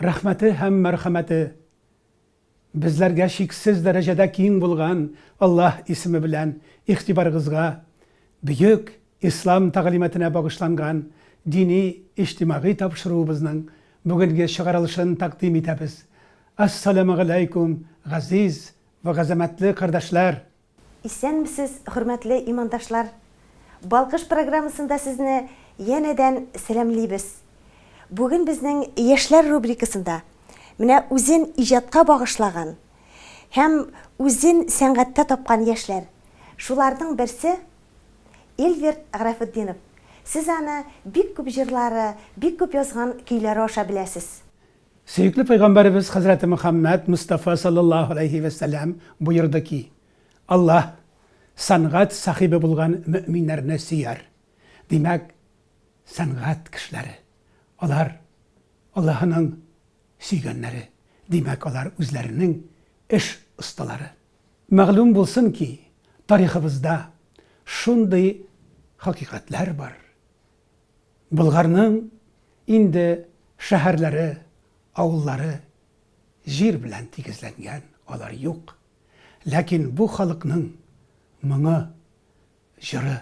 Рәхмәте һәм мәрхәмәте безләргә чиксез дәрәҗәдә киң булган Аллаһ исеме белән игътибарыгызга бөек Ислам тәгълиматына багышланган дини-иҗтимагый тапшыруыбызның бүгенге чыгарылышын тәкъдим итәбез. Ас-саләмәгаләйкүм, газиз вә газәмәтле кардәшләр! Исәнмесез, хөрмәтле имандашлар! Балкыш программасында сезне янәдән сәламлибез. Бүген безнең Яшьләр рубрикасында менә үзен иҗатка багышлаган һәм үзен сәнгатьтә тапкан яшьләр. Шуларның берсе, Эльвир Графетдинов. Сез аны бик күп җырлары, бик күп язган көйләре аша беләсез. Сөекле пәйгамбәребез хәзрәте Мөхәммәд Мостафа саллаллаһу галәйһи вә сәлләм боерды ки, Аллаһ сәнгать сахибе булган мөэминнәрне сөяр. Димәк, сәнгать кешеләре, алар Аллаһының сөйгәннәре, димәк, алар үзләренең эш осталары. Мәгълүм булсын ки, тарихыбызда шундый хакыйкатьләр бар, Болгарның инде шәһәрләре, авыллары, җир белән тигезләнгән, алар юк. Ләкин бу халыкның моңы, җыры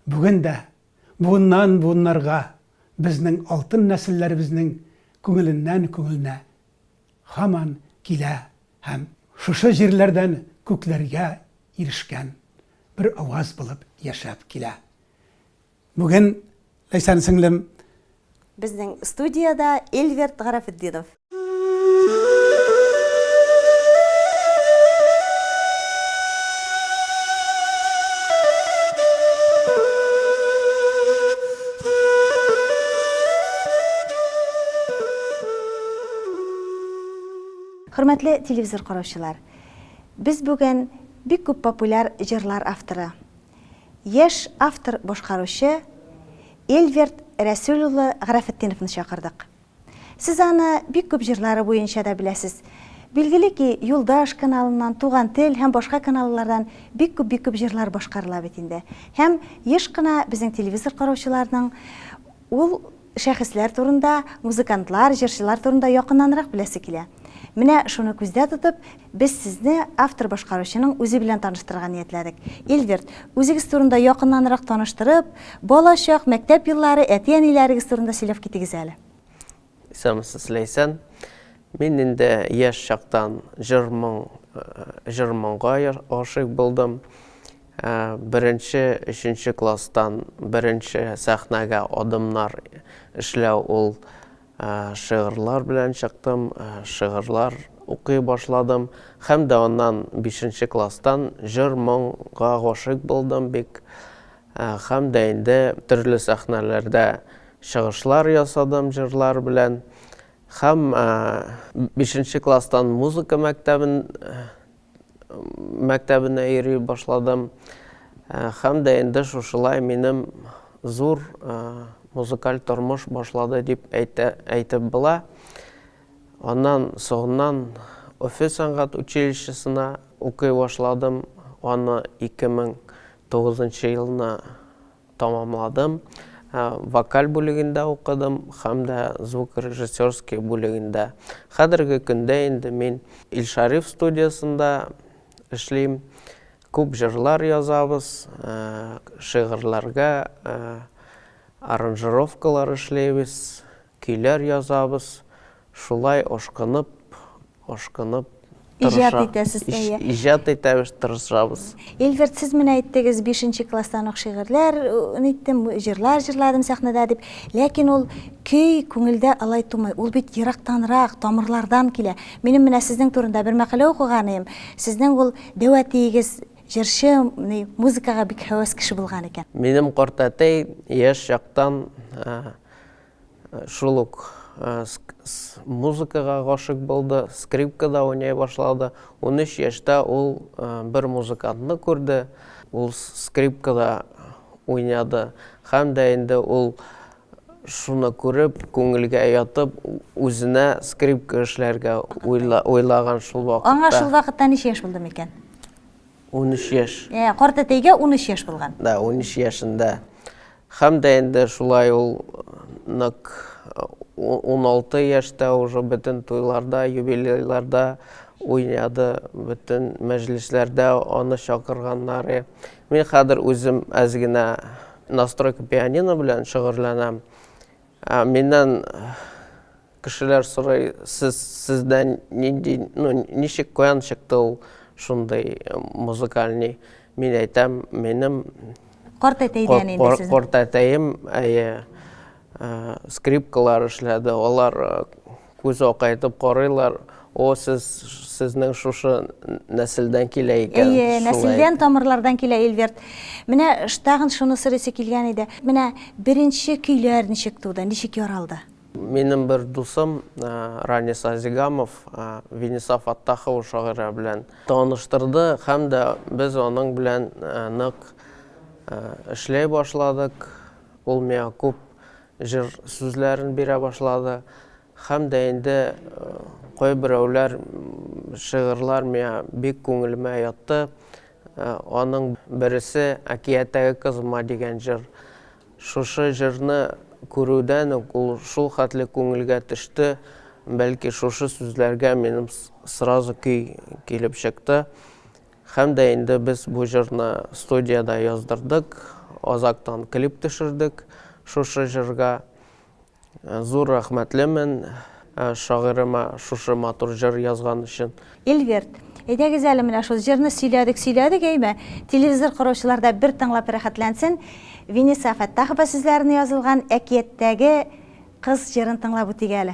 бүген дә буыннан-буыннарга безнең алтын нәселләребезнең күңеленнән-күңеленә һаман килә һәм шушы җирләрдән күкләргә ирешкән бер аваз булып яшәп килә. Бүген Ләйсән сеңлем. Безнең студиядә Эльверт Гарәфетдинов. Хөрмәтле телевизор караучылар! Без бүген бик күп популяр җырлар авторы, Яшь автор-башкаручы Эльверт Рәсүл улы Гарәфетдиновны чакырдык. Сез аны бик күп җырлары буенча да беләсез. Билгеле ки, Юлдаш каналыннан, Туган тел һәм башка каналлардан бик күп-бик күп җырлар башкарыла бит инде. Һәм еш кына безнең телевизор караучыларның Ул шәхесләр турында, музыкантлар, җырчылар турында якыннанрак беләсе килә. Менә шуны күздә тотып, без сезне автор-башкаручының үзе белән таныштырырга ниятләдек. Эльверт, үзегез турында якыннанрак таныштырып, балачак, мәктәп еллары, әти-әниләрегез турында сөйләп китегез әле. Исәнмесез, Ләйсән. Мин инде яшь чактан җыр-моң, җыр-моңга гашыйк булдым. Беренче, өченче класстан беренче сәхнәгә адымнар эшләү ул шигырьләр белән чыктым, шигырьләр укый башладым. Һәм дә аннан бишенче класстан җыр-моңга гашыйк булдым бик. Хәм дә инде төрле сәхнәләрдә чыгышлар ясадым җырлар белән. Хәм бишенче класстан музыка мәктәбен мәктәбенә йөри башладым. Хәм дә инде шушылай минем зур музыкаль тормыш башлады дип әйтә әйтеп була. Аннан соңыннан Өфе сәнгать училищесына укый башладым. Аны 2000 Тугызынчы елны тәмамладым. Вокаль бүлегендә укыдым һәм дә звукорежиссерский бүлегендә. Хәзерге көндә инде мин Илшариф студиясендә эшлим. Күп җырлар язабыз, шигырьләргә аранжировкалар эшлибез. Көйләр язабыз, шулай ашкынып, ашкынып Иҗат итәсез, әйе. Иҗат итәбез, тырышабыз. Ильверт, сез менә әйттегез, бишенче класстан ук шигырьләр ниттем, җырлар җырладым сәхнәдә дип. Ләкин ул көй күңелдә алай тумый. Ул бит ерактанрак, тамырлардан килә. Минем менә сезнең турында бер мәкалә укыган идем. Сезнең ул дәү әтиегез җырчы, музыкага бик һәвәс кеше булган икән. Минем картәтәй яшь чактан Шул ук музыкага гашыйк булды, скрипкада уйный башлады. Унөч яшьтә ул бер музыкантны күрде, ул скрипкада уйнады һәм дә инде ул шуны күреп, күңелгә ятып, үзенә скрипка эшләргә уйлаган шул вакытта. Аңа шул вакытта ничә яшь булды микән? 13 яшь. Ә, картәтәйгә унөч яшь булган. Да, унөч яшендә. Хәм дә инде шулай ул нык уналты яшьтә уже бөтен туйларда, юбилейларда уйнады, бөтен мәҗлесләрдә аны чакырганнары. Мин хәзер үзем әз генә настройка пианино белән шөгырьләнәм. Ә миннән кешеләр сорый, сез сездә нинди, ну ничек каян чыкты ул шундый музыкальный? Мин әйтәм, минем Картәтәйдән инде сезнең. Картәтәем, әйе, скрипкалар эшләде, алар Күз акайтып карыйлар, О, сез, сезнең шушы нәселдән килә икән. Әйе, нәселдән, тамырлардан килә Эльверт. Менә штагын шуны сорыйсы килгән иде. Менә беренче көйләр ничек туды, ничек яралды? Минем бер дусым Ранис Азигамов Венеса Фаттахова шагыйрә белән таныштырды һәм дә без аның белән нык эшләй башладык. Ул миңа күп Җыр сүзләрен бирә башлады. Һәм дә инде кайберәүләр шигырьләр миңа бик күңелемә ятты. Аның бересе Әкияттәге кызыма дигән җыр. Шушы җырны күрүдән үк ул шул хәтле күңелгә төште, бәлки шушы сүзләргә минем сразу көй килеп чыкты. Һәм дә инде без бу җырны студиядә яздырдык, азактан клип төшердек шушы җырга. Зур рәхмәтлемен шагыйрема шушы матур җыр язган өчен. Ильверт, әйдәгез әле менә шул җырны сөйләдек, сөйләдек, әйме, телевизор караучылар да бер тыңлап рәхәтләнсен, Виниса Фәттахова сүзләренә язылган Әкияттәге кыз җырын тыңлап үтик әле.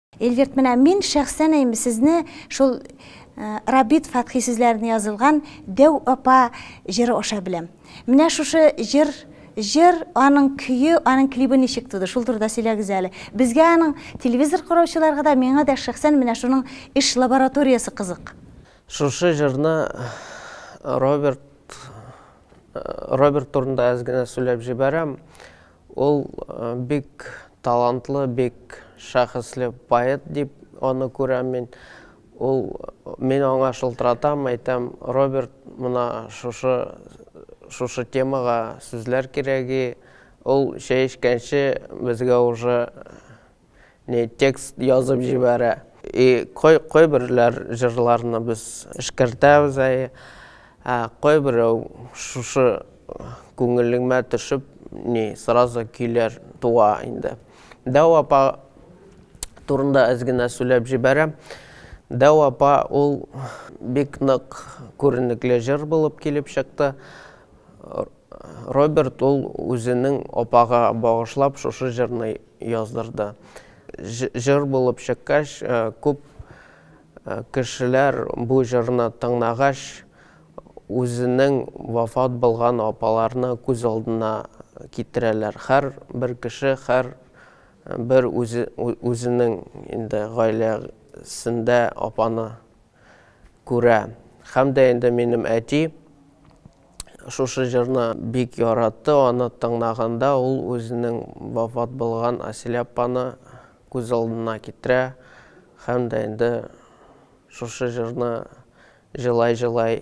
Эльвирт, менә мин шәхсән әйм сезне шул Рабит Фатхи сүзләренә язылган Дәү апа җыры аша беләм. Менә шушы җыр җыр, аның көе, аның клибы ничек туды? Шул турыда сөйләгез әле. Безгә аның телевизор караучыларга да, миңа да шәхсән менә шуның эш лабораториясе кызык. Шушы җырны Роберт Роберт турында әз генә сөйләп җибәрәм. Ул бик талантлы, бик шәхесле поэт дип аны күрәм мин. Ул, мин аңа шылтыратам, әйтәм, Роберт, мына шушы, шушы темага сүзләр кирәги. Ул чәй эчкәнче безгә уже не текст язып җибәрә и кой кайберләр җырларны без эшкәртәбез әй ә кайберәү шушы күңелеңмә төшеп ни сразу көйләр туа инде дәү апа турында әз генә сүләп җибәрәм дәү апа ул бик нык күренекле җыр булып килеп чыкты роберт ул үзенең апага багышлап шушы җырны яздырды. Җыр булып чыккач, күп кешеләр бу җырны тыңнагач, үзенең вафат булган апаларны күз алдына китерәләр. Хәр бер кеше хәр бер үзенең инде гаиләсендә апаны күрә. Һәм дә инде минем әти шушы җырны бик яратты, аны тыңнаганда ул үзенең вафат булган Асилә апаны күз алдына китерә һәм дә инде шушы җырны җылай-җылай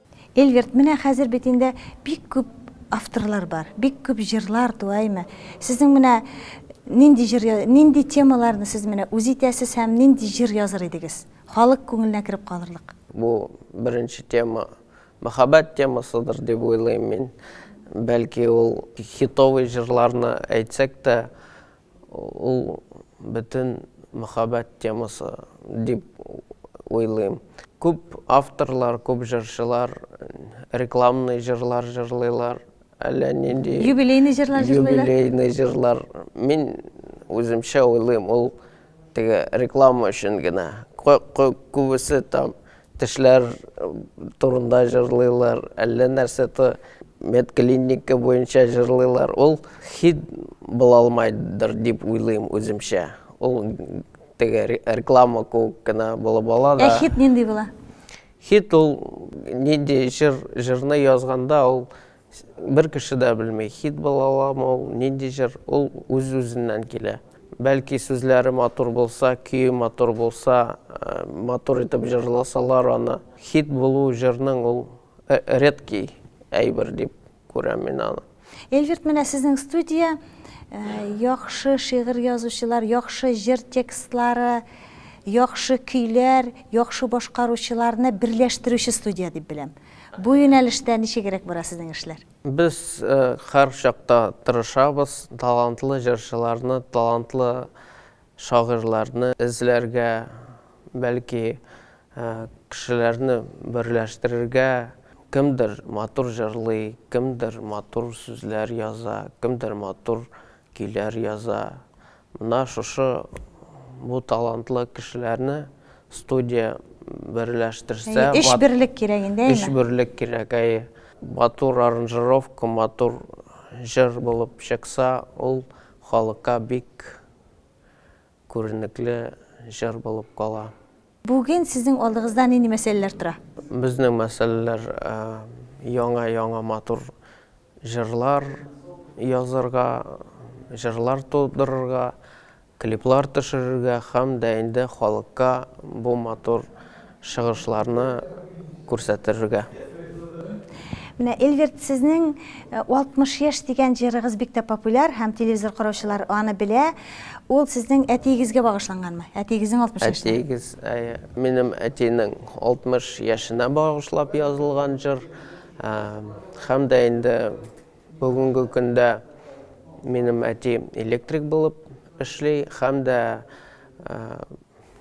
Эльверт, менә хәзер бит инде бик күп авторлар бар, бик күп җырлар туа име? Сезнең менә нинди җыр, нинди темаларны сез менә үз итәсез һәм нинди җыр языр идегез, халык күңеленә кереп калырлык? Бу беренче тема мәхәббәт темасыдыр дип уйлыйм мин. Бәлки ул хитовый җырларны әйтсәк тә Ул бөтен мәхәббәт темасы дип уйлыйм. Күп авторлар, күп җырчылар рекламный җырлар җырлыйлар, әллә нинди. Юбилейный җырлар җырлыйлар. Юбилейный җырлар. Мин үземчә уйлыйм, ул теге реклама өчен генә. Күбесе там Тешләр турында җырлыйлар, әллә нәрсә то медклиника буенча җырлыйлар. Ул хит була алмайдыр дип уйлыйм үземчә. Ул теге реклама куып кына булып ала да. Ә хит нинди була? Хит ул нинди җыр, җырны язганда ул Бер кеше дә белми, хит була аламы ул, нинди җыр, ул үз-үзеннән килә. Бәлки сүзләре матур булса, көе матур булса, матур итеп җырласалар аны, хит булу җырның ул редкий әйбер дип күрәм мин аны. Эльвирт, менә сезнең студия, яхшы шигырь язучылар, яхшы җыр текстлары, яхшы көйләр, яхшы башкаручыларны берләштерүче студия дип беләм. Бу юнәлештә ничегрәк бара сезнең эшләр? Без һәрчакта тырышабыз, талантлы җырчыларны, талантлы шагыйрьләрне эзләргә, бәлки кешеләрне берләштерергә, кемдер матур җырлый, кемдер матур сүзләр яза, кемдер матур көйләр яза, Менә шушы бу талантлы кешеләрне студия берләштерсә. Әйе, эшберлек кирәк инде, әйеме? Эшберлек кирәк, әйе. Матур аранжировка, матур җыр булып чыкса, ул халыкка бик күренекле җыр булып кала. Бүген сезнең алдыгызда нинди мәсьәләләр тора? Безнең мәсьәләләр яңа-яңа матур җырлар язырга, җырлар тудырырга, клиплар төшерергә һәм дә инде халыкка бу матур чыгышларны күрсәтерергә. Менә, Эльверт, сезнең 60 яшь дигән җырыгыз бик тә популяр һәм телевизор караучылар аны белә. Ул сезнең әтиегезгә багышланганмы? Әтиегезнең 60 яшенә? Әтиегез, әйе. Минем әтинең 60 яшенә багышлап язылган җыр. Һәм дә инде бүгенге көндә минем әти электрик булып эшли һәм дә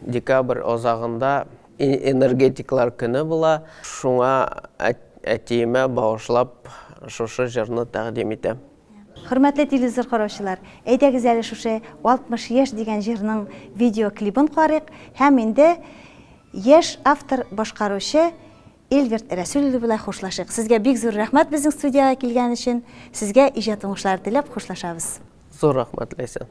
декабрь азагында энергетиклар көне була. Шуңа әтиемә багышлап шушы җырны тәкъдим итәм. Хөрмәтле телевизор караучылар, әйдәгез әле шушы 60 яшь дигән җырның видеоклибын карыйк һәм инде яшь автор, башкаручы Эльгерт Рәсүл улы белән хушлашыйк. Сезгә бик зур рәхмәт безнең студиягә килгән өчен. Сезгә иҗат уңышлары теләп хушлашабыз. Зур рәхмәт, Ләйсән.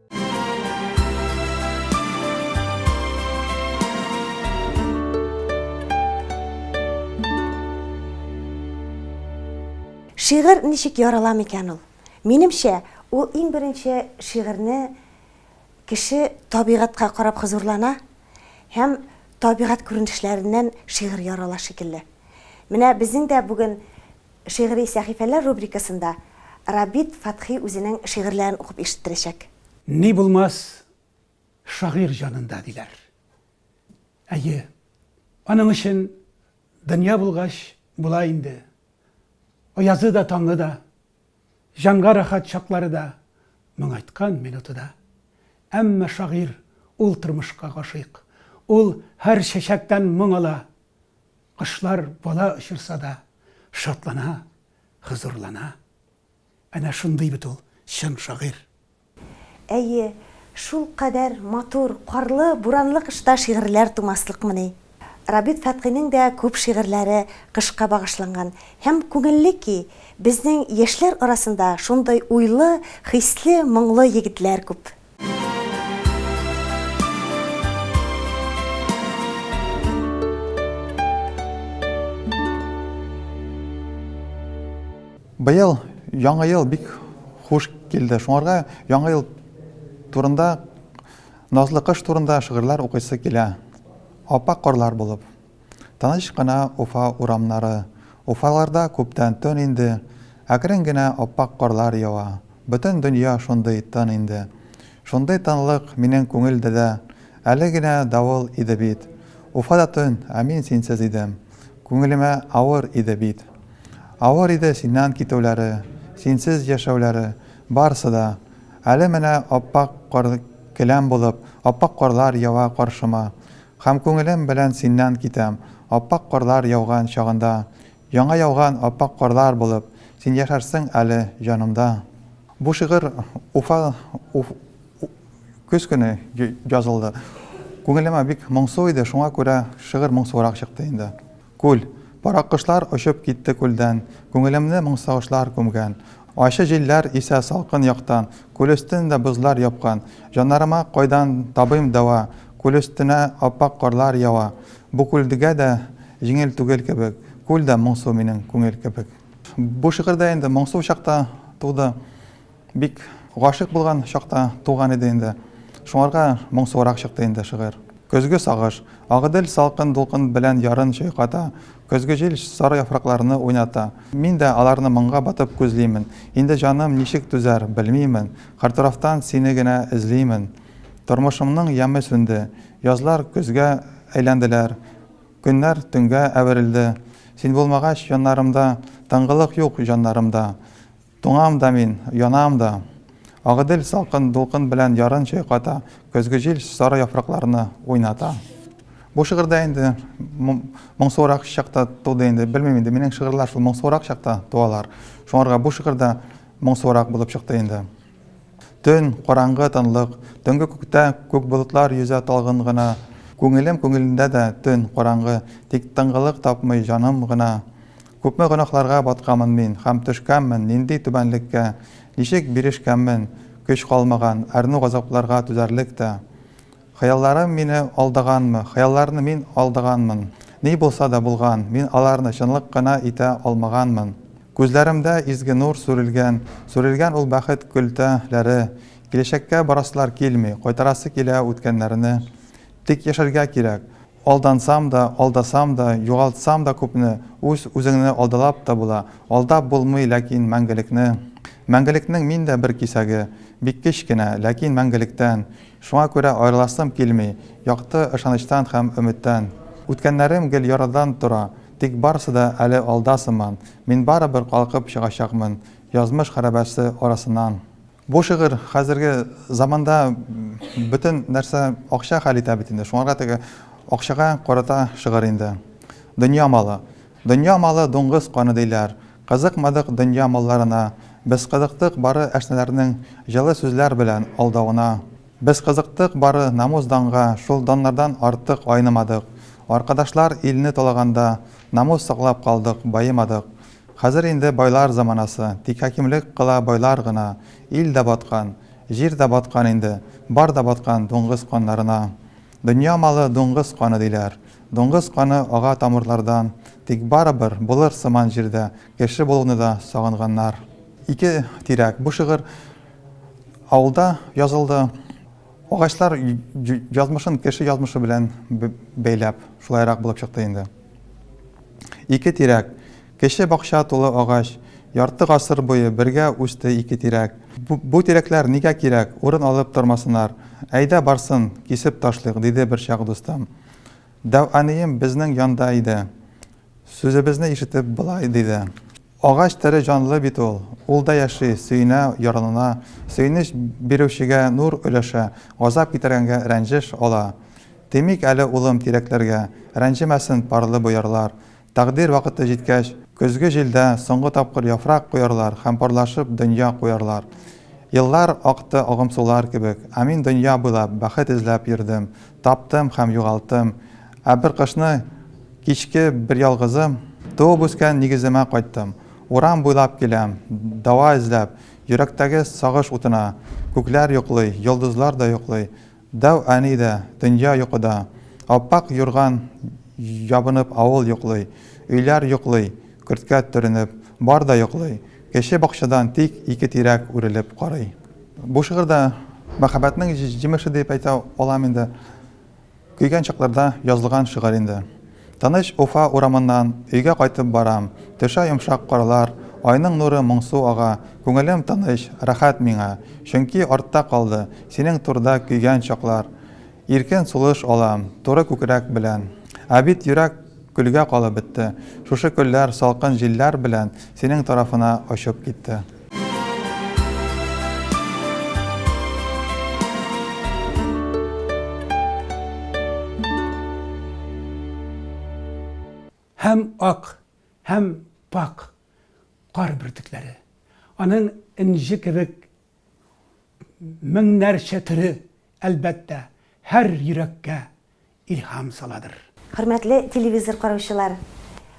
Шигырь ничек ярала микән ул? Минемчә, ул иң беренче шигырьне кеше табигатькә карап хозурлана һәм табигать күренешләреннән шигырь ярала шикелле. Менә безнең дә бүген Шигъри сәхифәләр рубрикасында Рабит Фәтхи үзенең шигырьләрен укып ишеттерәчәк. Ни булмас шагыйрь җанында, диләр. Әйе, аның өчен дөнья булгач, була инде. Аязы да, таңы да, җанга рәхәт чаклары да, моңайткан минуты да. Әмма шагыйрь, ул тормышка гашыйк. Ул һәр чәчәктән моң ала, Кошлар бала очырса да, шатлана, хозурлана. Әнә шундый бит ул чын шагыйрь. Әйе, шулкадәр матур, карлы, буранлы кышта шигырьләр тумаслыкмыни? Рабит Фәтхинең дә күп шигырьләре кышка багышланган. Һәм күңелле ки, безнең яшьләр арасында шундый уйлы, хисле, моңлы егетләр күп. Быел яңа ел бик хуш килде. Шуңарга яңа ел турында назлы кыш турында шигырьләр укыйсы килә. Аппак карлар булып. Тыныч кына Уфа урамнары. Уфаларда күптән төн инде. Әкрен генә ап-ак карлар ява. Бөтен дөнья шундый тын инде. Шундый тынлык минем күңелдә дә. Әле генә давыл иде бит. Уфа да төн, ә мин синсез идем. Күңелемә авыр иде бит. Авыр иде синнән китүләре, синсез яшәүләре, барсы да. Әле менә ап-ак кар келәм булып, ап-ак карлар ява каршыма. Һәм күңелем белән синнән китәм, Аппак карлар яуган чагында. Яңа яуган аппак карлар булып, Син яшәрсең әле җанымда. Бу шигырь Уфа Уф көз көне язылды. Күңелемә бик моңсу иде, шуңа күрә шигырь моңсуырак чыкты инде. Күл. Пырак кошлар очып китте күлдән, Күңелемне моң сагышлар күмгән. Ачы җилләр исә салкын яктан, Күл өстен дә бозлар япкан. Җаннарыма кайдан табыйм дәва, Күл өстенә ап-ак карлар ява. Бу күлдгә дә җиңел түгел кебек, Күл дә моңсу минем күңел кебек. Бу шигырь дә инде моңсу чакта туды. Бик гашыйк булган чакта туган иде инде. Шуңарга моңсуырак чыкты инде шигырь. Көзге сагыш. Агыдель салкын дулкын белән ярын чайката, көзге җил сары яфракларны уйната. Мин дә аларны моңга батып күзлимен. Инде җаным ничек түзәр, белмимен. Картурафтан сине генә эзлимен. Тормышымның яме сүнде. Язлар көзгә әйләнделәр. Көннәр төнгә әверелде. Син булмагач яннарымда, Тынгылык юк җаннарымда. Туңам да мин, янам да. Агыйдел салкын дулкын белән ярын чайката, көзге җил сары яфракларны уйната. Бу шигырь дә инде моңсуырак чакта туды инде. Белмим инде, минем шигырьләр шул моңсуырак чакта туалар. Шуңарга бу шигырь дә моңсуырак булып чыкты инде. Төн, караңгы тынлык, төнге күктә күк болытлар йөзә талгын гына. Күңелем күңелендә дә төн, караңгы, тик тынгылык тапмый җаным гына. Күпме гөнаһларга баткамын мин һәм төшкәнмен нинди түбәнлеккә, ничек бирешкәнмен, көч калмаган, әрнү газапларга түзәрлек тә. Хыялларым мине алдаганмы, хыялларны мин алдаганмын, ни булса да булган, мин аларны чынлык кына итә алмаганмын. Күзләремдә изге нур сүрелгән, сүрелгән ул бәхет көлтә ләре, киләчәккә барасылар килми, кайтарасы килә үткәннәрне. Тик яшәргә кирәк. Алдансам да, алдасам да, югалтсам да күпне, үз үзеңне алдалап та була, алдап булмый ләкин мәңгелекне. Мәңгелекнең мин дә бер кисәге, бик кечкенә, ләкин мәңгелектән. Шуңа күрә аерыласым килми, якты ышанычтан һәм өметтән. Үткәннәрем гел ярадан тора, тик барысы да әле алда сыман, мин барыбер калкып чыгачакмын язмыш хәрабәсе арасыннан. Бу шигырь хәзерге заманда бөтен нәрсә акча хәл итә бит инде. Шуңарга теге акчага карата шигырь инде. Дөнья малы. Дөнья малы дуңгыз каны диләр. Кызыкмадык дөнья малларына. Без кызыктык бары әшнәләрнең җылы сүзләр белән алдавына. Без кызыктык бары намус-данга, шул даннардан артык айнымадык. Аркадашлар илне талаганда, намус саклап калдык, баемадык. Хәзер инде байлар заманасы, тик хакимлек кыла байлар гына, ил дә баткан, җир дә баткан инде, бар да баткан дуңгыз каннарына. Дөнья малы дуңгыз каны диләр, дуңгыз каны ага тамырлардан, тик барыбер булыр сыман җирдә кеше булуны да сагынганнар. Ике тирәк. Бу шигырь авылда язылды. Агачлар язмышын кеше язмышы белән бәйләп, шулайрак булып чыкты инде. Ике тирәк, кече бакча тулы агач, ярты гасыр буе бергә үсте ике тирәк. Бу тирәкләр нигә кирәк, урын алып тормасынар, әйдә барсын, кисеп ташлыйк, диде берчак дустым. Дәү әнием безнең янда иде. Сүзебезне ишетеп, болай диде. Агач тере җанлы бит ул. Ул да яши, сөенә, яралана. Сөенеч бирүчегә нур өләшә, газап китергәнгә рәнҗеш ала. Тимик әле, улым, тирәкләргә. Рәнҗемәсен парлы боярлар. Тәкъдир вакыты җиткәч, көзге җилдә соңгы тапкыр яфрак коярлар һәм парлашып дөнья куярлар. Еллар акты агымсулар кебек, ә мин дөнья буйлап бәхет эзләп йөрдем, Таптым һәм югалттым. Ә бер кышны кичке берьялгызым Туып-үскән нигеземә кайттым. Урам буйлап киләм, дава эзләп, Йөрәктәге сагыш утына. Күкләр йоклый, йолдызлар да йоклый, Дәү әни дә, дөнья йокыда. Ап-ак юрган ябынып авыл йоклый, Өйләр йоклый, көрткә төренеп, бар да йоклый. Кече бакчадан тик ике тирәк үрелеп карый. Бу шигырьдә мәхәббәтнең җимеше дип әйтә алам инде. Көйгән чакларда язылган шигырь инде. Тыныч Уфа урамыннан өйгә кайтып барам. Төшә йомшак карлар, айның нуры моңсу ага. Күңелем тыныч, рәхәт миңа. Чөнки артта калды, синең турыда көйгән чаклар. Иркен сулыш алам, туры күкрәк белән. Ә бит йөрәк көлгә калып бетте. Шушы көлләр салкын җилләр белән синең тарафына очып китте. Һәм ак, һәм пакь кар бөртекләре. Аның энҗе кебек Меңнәрчә төре, әлбәттә, һәр йөрәккә илһам саладыр. Хөрмәтле телевизор караучылар!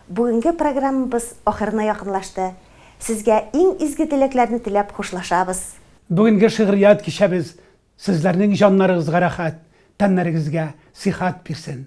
Бүгенге программабыз ахырына якынлашты. Сезгә иң изге теләкләрне теләп хушлашабыз. Бүгенге шигърият кичәбез сезләрнең җаннарыгызга рәхәт, тәннәрегезгә сихәт бирсен!